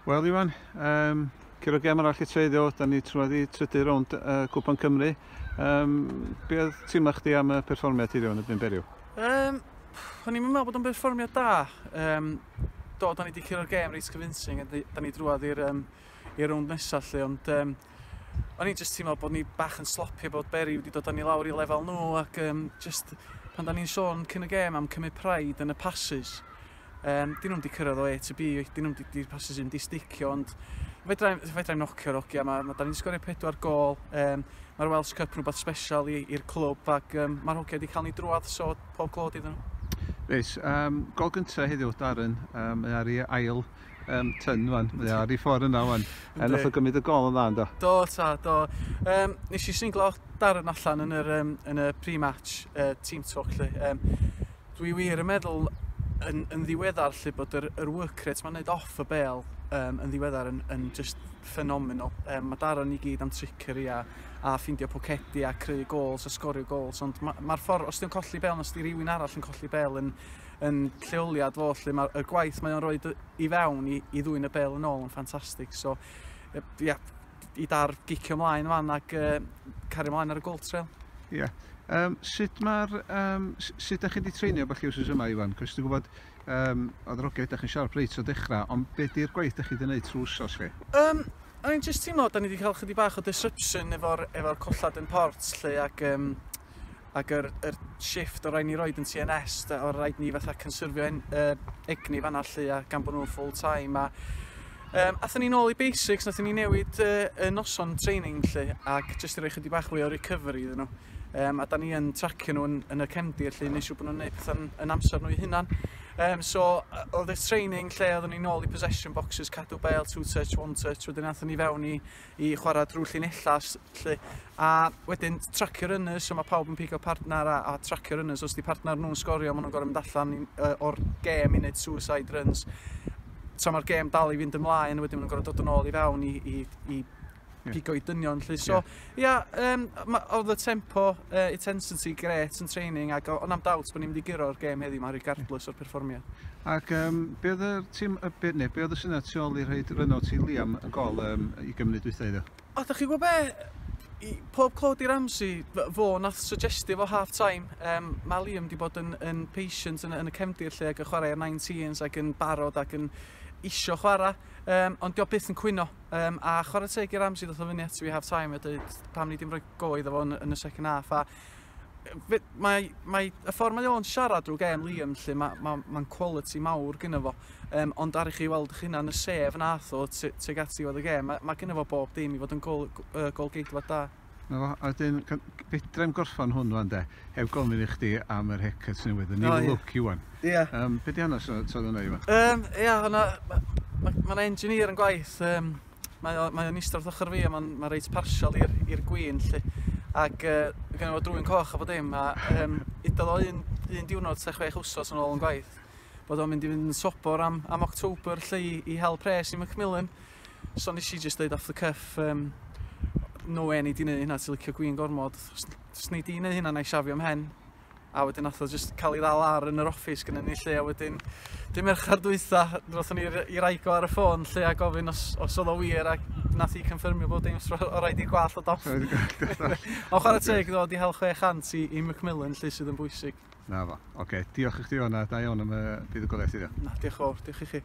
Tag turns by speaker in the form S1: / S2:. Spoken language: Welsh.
S1: Wel Iwan, um, cyrraedd gem arall i treiddio, da ni trwad i trydydd rownd uh, Cwpan Cymru. Um, be oedd teimlo chdi am y perfformiad ti ddiwrnod y byn beriw? Um, o'n i'n meddwl bod o'n perfformiad da. Um, do, da ni wedi cyrraedd gem reit convincing, da ni drwad i'r um, i'r rownd nesaf lle, ond um, o'n i'n jyst teimlo bod ni bach yn sloppy bod Bury wedi dod â ni lawr i lefel nhw ac um, just pan da ni'n sôn cyn y gêm am cymryd pride yn y passes um, dyn nhw'n di cyrraedd o A to B dyn nhw'n di, di passes yn di sticio ond fedrai'n fedra nocio rogi a mae ma, da ni'n sgorio pedwar gol um, mae'r Welsh Cup rhywbeth special i'r clwb ac um, mae'r hogia wedi cael ni drwad so pob glod iddyn nhw Reit, um, gol gyntaf heddiw, Darren, um, mae ar ei ail um, tyn wan. Mae ar i ffordd yna wan. A nath o gymryd y gol yn dda ynddo? Do, ta, do. Um, nes i singlo darn allan yn yr, um, yn y pre-match uh, team talk lle. Um, dwi wir yn meddwl yn, yn ddiweddar lle bod yr, yr work rate mae'n neud off y bel um, yn ddiweddar yn, yn just ffenomenol. Um, mae Darren i gyd am trickery a, a ffindio pocedi a creu gols a sgorio gols, ond mae'r ma ffordd, os di'n colli bel, os di rhywun arall yn colli bel yn, yn lleoliad fo 'lly ma' y gwaith mae o'n roid y i fewn i i ddwyn y bel yn ôl yn ffantastig so yy ia i dar gicio mlaen fan ac yy cario mlaen ar y Gold Trail. Ia. Yym sut ma'r yym s- sut 'dach chi 'di treinio bach chi wsos yma Ifan? Cos dwi'n gwybod yym oedd yr oge 'dach chi'n siarad reit o dechrau, ond be 'di'r gwaith 'dach chi 'di wneud trwy wsos chi? Yym o'n i'n jyst teimlo 'dan ni 'di cael chydig bach o disruption efo'r efo'r collad yn Port 'lly ac yym ac yr yr shift o' rai' ni roid yn Tee En Ess 'de o' raid ni fatha cynsyrfio en- yy egni fan 'na 'lly a gan bo' nw'n full time a yym athon ni nôl i basics nathon ni newid yy y noson training 'lly ac jyst i roi chydig bach fwy o recovery iddyn nhw yym a 'dan ni yn tracio nhw yn yn y cefndir 'lly neu' siŵr bo' nhw'n neud petha'n yn amser nhw'i hunan yym so yy o'dd y training lle oddon ni nôl i possession boxes cadw bêl two touch one touch wedyn athon ni fewn i i chwarae drwy llinellau 'lly a wedyn tracio runners so mae pawb yn pigo partner a, a tracio runners os di partner nhw'n sgorio maen nhw'n gorau mynd allan i, uh, o'r gêm i wneud suicide runs tra mae'r gêm dal i fynd ymlaen wedyn maen nhw'n gorau dod yn ôl i fewn i, i, i pigo i dynion lly so ia yeah. yeah, um, oedd y tempo Yy intensity grêt yn training ac o- na'm doubt bo' ni'n mynd i guro'r gêm heddiw 'ma regardless o'r perfformiad. Ac yym be' odd yr tîm yy be' ne' be' odd y syniad tu ôl i rhoid run-out i Liam y gol yym ugen munud dwytha heddiw? O dach chi gwbo be'? I- pob clod i Ramsey f- fo nath suggestio fo half time yym ma' Liam 'di bod yn yn patient yn y yn y cefndir 'lly ag yn chware ar nineteens ag yn barod ac yn isio chwara yym ond 'di o byth yn cwyno. Um, a chwarae teg i Ramsey ddoth o fyny at fi half time a dweud pam ni ddim rhoi go iddo fo yn, yn y second half. A mae, mae y ffordd mae o'n siarad drwy gem Liam lle mae'n ma, ma, ma quality mawr gyda fo um, ond ar i chi weld eich hunan y sef nath o teg at ddiwedd y gem mae, ma gyda fo bob dim i fod yn gol, uh, golgeidfa da 'Na fo, a wedyn g- g- fedrai'm gorffan hwn ŵan de, heb gofyn i chdi am yr haircut newydd, y new look Iwan. Ia. Yym be' 'di hanes o t'od o hwnna Iwan? Yym ia o' 'na ma' ma' ma' 'na engineer yn gwaith yym mae o mae o'n ista wrth ochor fi a ma'n ma' reit partial i'r i'r gwin 'lly ag yy ma' gynno fo drwyn coch a bo dim a yym udodd o un un diwrnod ta chwech wsos yn ôl yn gwaith bod o'n mynd i fynd yn sobor am am October 'lly i i hel pres i Macmillan So nes i just dweud off the cuff, um, no way ni di neud hynna, ti licio gwin gormod. Os ni di neud hynna, na i siafio am hen. A wedyn nath o just cael ei ddal ar yn yr office gyda ni lle, a wedyn dim merchar dwytha, roth ni i raigo ar y ffôn lle a gofyn os, os oedd o wir, a nath i confirmio bod dim o rhaid i gwall o doff. Ond chwarae teg, ddod i hel 600 i, i Macmillan, lle sydd yn bwysig. Na fo. Oce, okay. diolch i chdi o'na, da iawn am y buddugoliaeth iddo. Na, diolch o, diolch i chi.